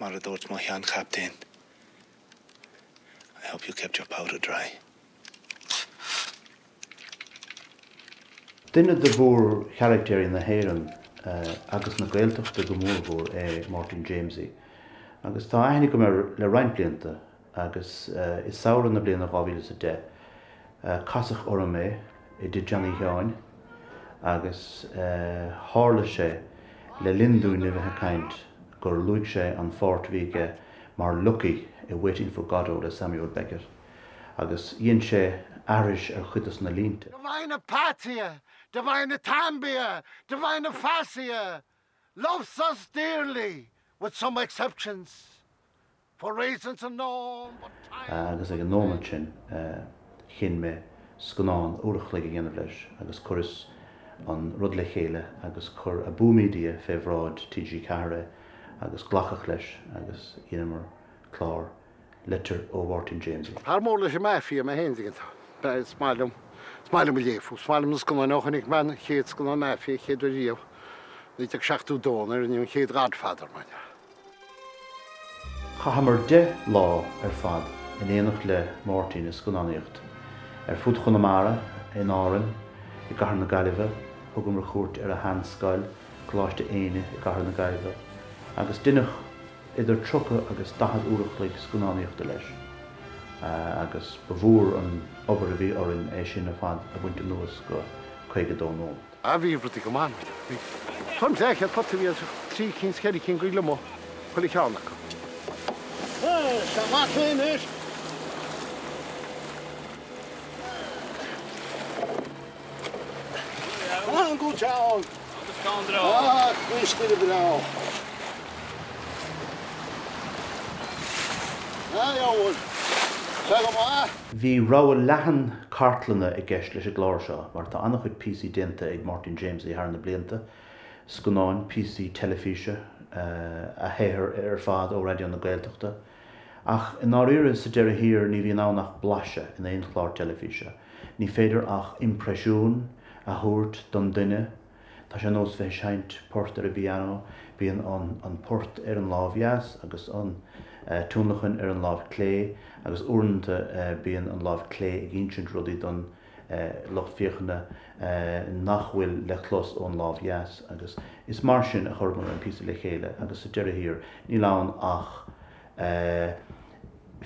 Mar a dúirt mo shean chaptaen, I hope you kept your powder dry. Duine de mhórcharactéirí na hÉireann agus na Gaeltachta go mór mhór é Máirtín Jaimsie agus tá aithne agam air le roinnt blianta. agus i samhradh na bliana 2010 casadh orm é i dTigh Johnny Sheáin agus tharla sé le linn dúinn a bheith ag caint gur luaigh sé an pháirt a bhí aige mar Lucky i Waiting for Godot le Samuel Beckett agus dhein sé aithris ar chuid dos na línte. Divine apathia! Divine athambia! Divine aphasia! loves us dearly with some exceptions, for reasons unknown but time will Agus ag an nóimeat sin chinn mé scannán uair a chloig a dhéanamh leis agus chuireas an rud le chéile agus chuir Abú Media fé bhráid TG4 é agus glacadh leis agus dheineamar clár Litir ó Mháirtín Jaimsie. Fear mór leis an Mafia mé féin, dtuigeann tú. B'ea, is maith liom, is maith liom a léamh fúthu, is maith liom na scannáin ó chonaic mé an chéad scannán Mafia, an chéad uair riamh, 1972 nuair a rinneadh an chéad Godfather, mar dhea. Chaitheamar deich lá ar fad in éineacht le Máirtín ag scannánaíocht, ar fud Chonamara, in Árainn, i gcathair na Gaillimhe, thugamar cuairt ar a shean-scoil, Coláiste Éinne i gcathair na Gaillimhe, agus deineadh, idir 30 agus 40 uair a chloig scannánaíochta leis agus ba mhór an obair a bhí orainn é sin ar fad a bhaint anuas go 52 nóiméad. a bhí rudaí go maith. Bhí tuairim is leath chéad pota a bhí anseo, trí cinn 's ceithre cinn de ghliomaigh i chuile cheann acu. Is ea, maith thú anois. Bhí rogha leathan cartlanna i gceist leis an gclár seo mar tá an-chuid píosaí déanta ag Máirtín Jaimsie thar na blianta, scannáin, píosaí teilifíse, a shaothar ar fad ó Raidió na Gaeltachta. Ach i ndáiríre, sa deireadh thiar, ní bhíonn ann ach blaiseadh in aon chlár teilifíse. Ní féidir ach impreisiún a thabhairt den duine. Tá sé nós bheith ag seinnt port ar an bpiano, bíonn an port ar an lámh dheas agus an tionlacan ar an lámh clé agus uaireannta bíonn an lámh clé ag insint rudaí don lucht féachana nach bhfuil le clos ón lámh dheas agus is mar sin a chuireamar an píosa le chéile agus sa deireadh thiar níl ann ach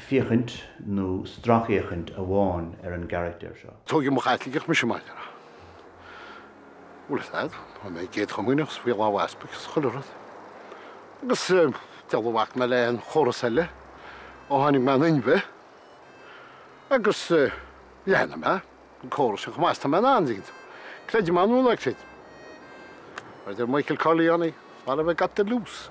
féachaint nó stracfhéachaint amháin ar an gcarachtar seo. Tógadh i mo Chaitliceach mise, Máire. Bhfuil a fhios agat, bhí mé i gCéad Chomaoineach, is faoi láimh easpaig, is chuile rud. Agus diabhal ar bhac mé le aon chóras eile, ó tháinig mé in inmhe, agus leanann mé. córas sin chomh maith is tá mé in ann, an dtuigeann tú. Creidim ann bhfuil a fhios agat. Mar a deir Michael Corleone, What have I got to lose?